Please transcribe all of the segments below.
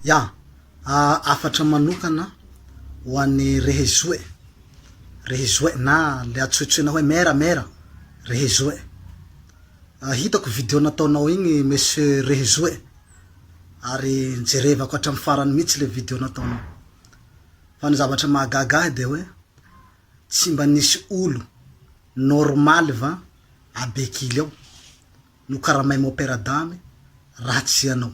Ya, hafatra manokana ho an'i Rehezoe, Rehezoe na le antsointsoina hoe Mera, Mera, Rehezoe. Hitako video nataonao igny Monsieur Rehezoe ary nijerevako hatramin'ny farany mihitsy le video nataonao. Fa ny zavatra mahagaga ahy dia hoe tsy mba nisy olo normaly va à Bekily ao nokaramain'i Opéra Dame raha tsy ianao.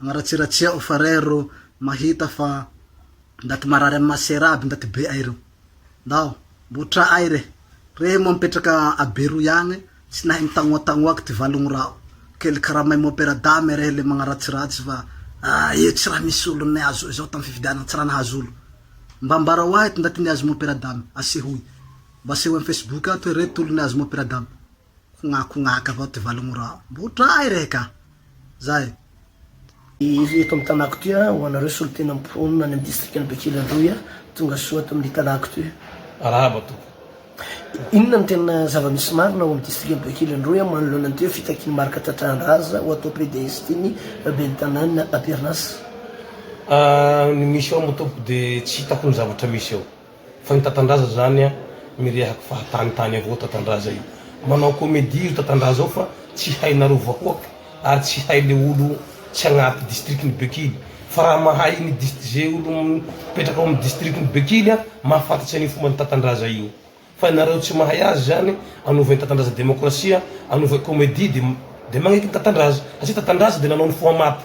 Anaratsiratsiao fa rey ro mahita fa ndaty marary am masera aby ndaty be ay reo. Ndao mbo tra ay re. Rey moa mipetraka a Beroy agny tsy nahay mitagnoatagnoaka ty valogny raho. Kely karamay moa pera dame rey le magnaratsiratsy fa ah io tsy raha misy olo niazo izao tam fifidianana tsy raha nahazo olo. Mba ambarao ahy ty ndaty niazo moa pera dame asehoy. Mba asehoy am facebook ato hoe reto olo niazo moa pera dame. Kognakognak avao ty valo mora mbo tray rehe ka zay. Iry eto amin'ny tanàko ty ho anareo solontena mponina any amin'ny distrikan'i Bekily Androy, tongasoa ato amin'ny tanàko ty. Arahaba tompoko. Inona no tena zava-misy marina ao amin'ny distrikan'i Bekily Androy manoloana an'ity hoe fitakian'i Marc Tatrahandraza ho atao PDS ity ny ben'ny tanàna Apernas? Ny misy ao moa tompoko dia tsy hitako ny zavatra misy ao. Fa io Tatandraza zany a mirehak fahatany tany avao Tatandraza io manao comedie io Tatandraza ao fa tsy hainareo vahoak ary tsy hay le olo tsy agnaty district ny bekily fa raha mahay ny dist ze olo mipetraka ao am district ny bekily a mahafantatry anio fomban Tatandraza io fa nareo tsy mahay azy zany anovain Tatandraza demokrasia anovain comedie de de magneky ny Tatandraza satria Tatandraza de nanao ny foha maty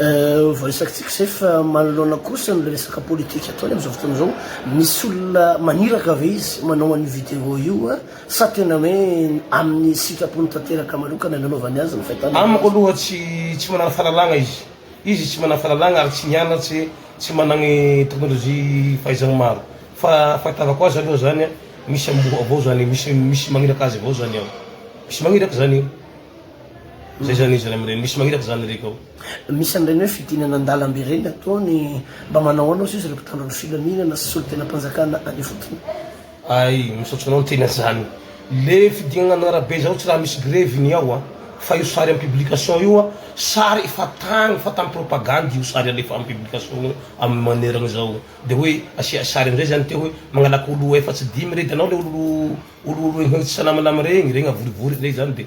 Voaresakitsika izay fa manoloana kosa ny resaka politika ataony amin'izao fotoana izao, misy olona maniraka ve izy manao an'io vidéo io sa tena hoe amin'ny sitrapony tanteraka manokana no anaovany azy ny fahitana azy? Amiko aloha tsy tsy manana fahalalagna izy. Izy tsy manana fahalalagna ary tsy nianatse, tsy managny technologie fahaizagny maro. Fa fahitavako azy aloha zany misy amboa avao zany, misy misy magniraka azy avao zany ao. Misy magniraka zany io. Zay zany izy rainireny. Misy magniraka zany reko ao. Misy an'ireny hoe fidinana an-dalambe ireny ataony, mba manao ahoana osa izy ireo mpitandro ny filaminana sy solontenam-panjakana any ifotony? Ay, misaotra anao ny tena zany. Le fidinana an' arabe zao tsy raha misy grevy ny ao a! Fa io sary am publication io a, sary efa tagny fa tam propagande io sary alefa am publication io am maneragna zao. De hoe asia sary amzay zany teo hoe magnalaka olo efatsy dimy re de anao le olo olo olo olo efatsy namana regny, regny avorivory regny zany de.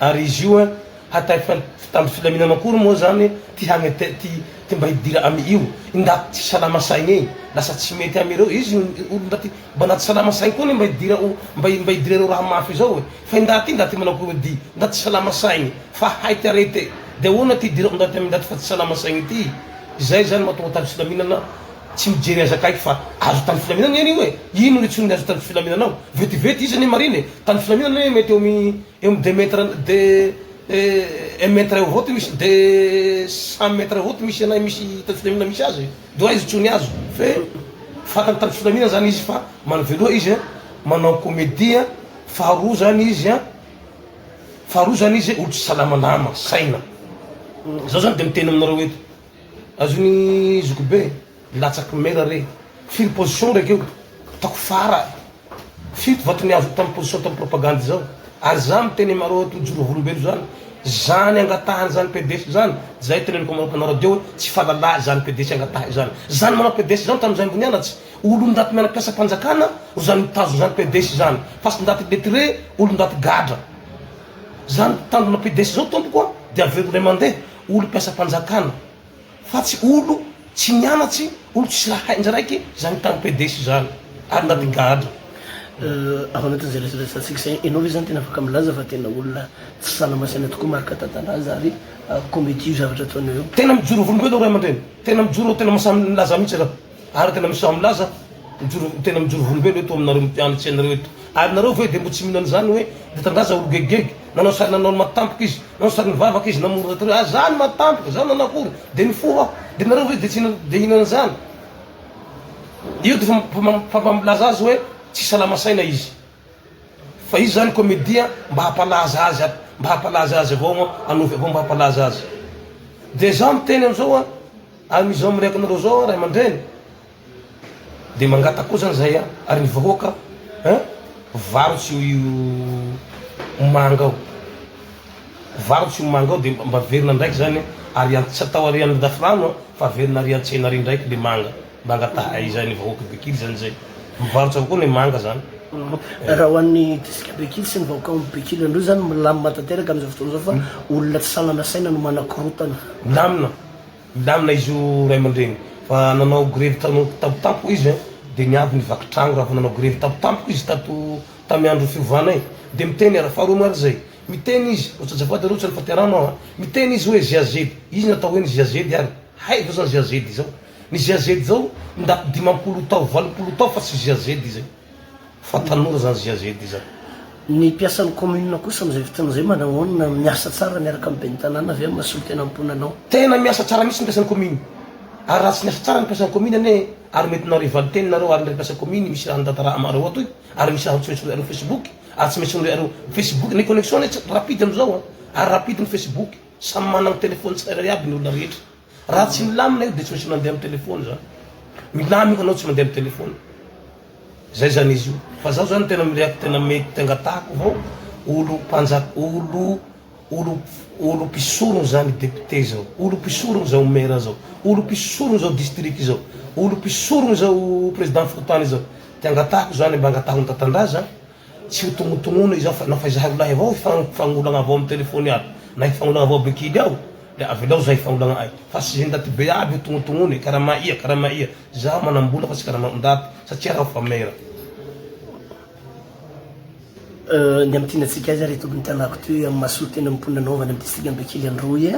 Ary izy io an hatay fitamby filaminana akory moa zany ty hagnete ty ty mba hidira amy io i ndaty tsy salama saigny ey lasa tsy mety amy ireo izy ny olo ndaty mba ndaty salama saigny koa anie mba hidira o mba mba hidira ireo raha mafy izao e fa i ndaty ty ndaty manao komedy ndaty tsy salama saigny fa hay ty arete de ahoana ty hidira o ndaty amy ndaty fa tsy salama saigny ty izay zany matoa tamby filaminana Tsy mijery azy akaiky fa azo tany filaminana anie io e! Ino no hitsonony azo tany filaminana ao? Vetivety izy anie marina e! Tany filaminana anie mety eo am eo am deux mètre de un mètre eo avao ty misy de cent mètre avao ty misy anay misy tany filaminana misy azy e! De hoe aiza hitsony azo? Fe fantany tany filaminana zany izy fa manoveloha izy an! manao comedie an! faharoa zany izy an! faharoa zany izy olo tsy salama nama, saina! Zaho zany de miteny aminareo eto Azony zokibe latsaky mena re. Firy position ndraiky io? Hitako fara fito vato ny azoko tam position tam propagande zao. Ary za miteny aminareo eto mijoro ho olombelo zany. Zany angatahany zany PDS zany, zay teneniko aminareo mpanao radio hoe tsy fahalalahy zany PDS angatahy zany. Zany manao PDS zany tam zaimbo nianatry, olo ndaty miana mpiasa mpanjakana ro zany mitazona zany PDS zany. Fa tsy ndaty lettre, olo ndaty gadra. Zany mpitandrina PDS zao tompoko a, de averony ray mandeha. olom-piasam-panjakana fa tsy olo tsy nianatsy, olo tsisy raha hainy zay raiky zany tany PDS zany ary nandingadra. Ao anatin'izay resadresantsika izay, ianao ve zany tena afaka milaza fa tena olona tsy sanamasaina tokoa Marc Tatandraza ary comédie io zavatra ataonao io? Tena mijoro volom-belo ry ray aman-dreny, tena mijoro, tena mahasahy milaza mihitsy zah. Araka ny amin'ny samy milaza, mijoro, tena mijoro volombelo eto aminareo mpianatry anareo eto. Ary nareo ve dia mbo tsy mino an'izany hoe Mitandaza olo gegigegy, nanao sary nanao ny maha tampoka izy, nanao sary nivavaka izy namory rahateo hoe azaa ny maha tampoka, zany nanao akory, dia nifoha aho, dia nareo ve dia tsy hina, dia hina an'izany? Io dia fa, fa, fa mba milaza azy hoe tsy salama saina izy. Fa izy zany comedia mba hampalaza azy aby, mba hampalaza azy avao an, anofy avao mba hampalaza azy. Dia za miteny amzao an, amizao mireaka anareo zao an ray aman-dreny, dia mangataka koa zany zay an, ary ny vahoaka an, varotra io manga ao, varotra io manga ao dia mba averina ndraiky zany an, ary tsy atao arian'ny dafrano an, fa averina arian-tsena ary ndraiky le manga. Manga tahaiza ny vahoaka Bekily zany zay mivarotra avokoa ny manga zany. Raha ho an'ny distrika Bekily sy ny vahoaka ao Bekily Androy zany milamina tanteraka amin'izao fotoana izao fa olona tsy sanana saina no manakorotana. Milamina, milamina izy io ray aman-dreny fa nanao grevy tano tampo tampoka izy an de niavy ny vaky trano raha vao nanao grevy tampo tampoka izy tato tamin'ny andro fiovana e! de miteny ara faharoa moa ary zay miteny izy ry azafady aloha tsy any faterano aho an miteny izy hoe GAZ izy ny atao hoe ny GAZ ary hay vao zany GAZ izao Ny GAZ zao ndaty dimampolo tao, valopolo tao fa tsy GAZ izay. Fa tanora zany GAZ izany. Ny mpiasan'ny commune kosa amin'izay fotoana izay manahoana? Miasa tsara miaraka amin'ny ben'ny tanàna ve amin'ny maha solontenam-ponanao? Tena miasa tsara mihitsy ny mpiasan'ny commune. Ary raha tsy niasa tsara ny mpiasan'ny commune anie ary mety nareo hivalin-teny nareo ary ny ry mpiasa commune misy raha nitantara amareo ato io ary misy raha hotsoritsory areo facebook ary tsy maintsy nore areo facebook ny connexion anie tsy rapide amin'izao a! ary rapide ny facebook samy managny telephone tsirairay aby ny olona rehetra. Raha tsy milamina io dia tsy misy mandeha amin'ny telefaona zany. Milamina io ka anao tsy mandeha amin'ny telefaona. Zay zany izy io. Fa zaho zany tena mirehaky tena mety angatahako vao olo mpanjaka olo olo olo mpisorona zany député zao. Olo mpisorona zao maire zao. Olo mpisorona zao district zao. Olo mpisorona zao président fokontany zao. Ty angatahako zany mba angataho ny tatandraza Tsy ho tonotonona izao fa na fa izahay roalahy avao hifanolagna avao amin'ny telephone aby na hifanolagna avao be kily ao dia avelao izahay hifanolagna ay fa tsy izay ndaty be aby io tonotonona e karama ia karama ia izaho manambola fa tsy karama ondaty satria raho fa mera Ny amin'ny tiana antsika azy ary eto amin'ny tanàko teo amin'ny masoa teny amin'ny mponina Nova any amin'ny distrikan'i Bekily Androy,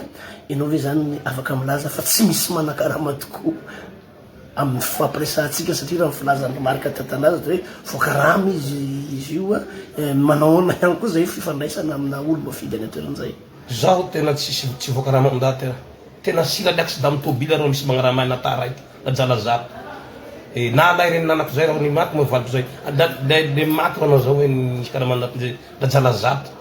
ianao ve izany afaka milaza fa tsy misy manan-karama tokoa? amin'ny fifampiresahantsika satria raha ny filazan'i Marka tantanazany hoe voakarama izy izy io a eh, manahoana ihany koa izay fifandraisana amina olo-mafidy any an-toerana izay. Zaho tena tsisy tsy voakarama am daty a. Tena sila ny accident am tobila reo misy magnarama na tara ity na jalazaro. Eh, na lahy reny nanako zay reo ny maty moa valiko zay. Ah, da le maty reo na zao hoe ny fikarama naty zay da jalazaro.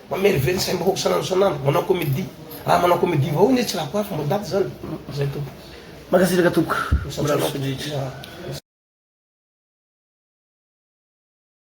Mamerively saim bahoaka sanandro sanandro manao comedie raha manao comedie vahoaka nge tsy raha koafy mbo daty zany zay tompoko. Mankasitraka tompoko. Misaotra anao tompoko.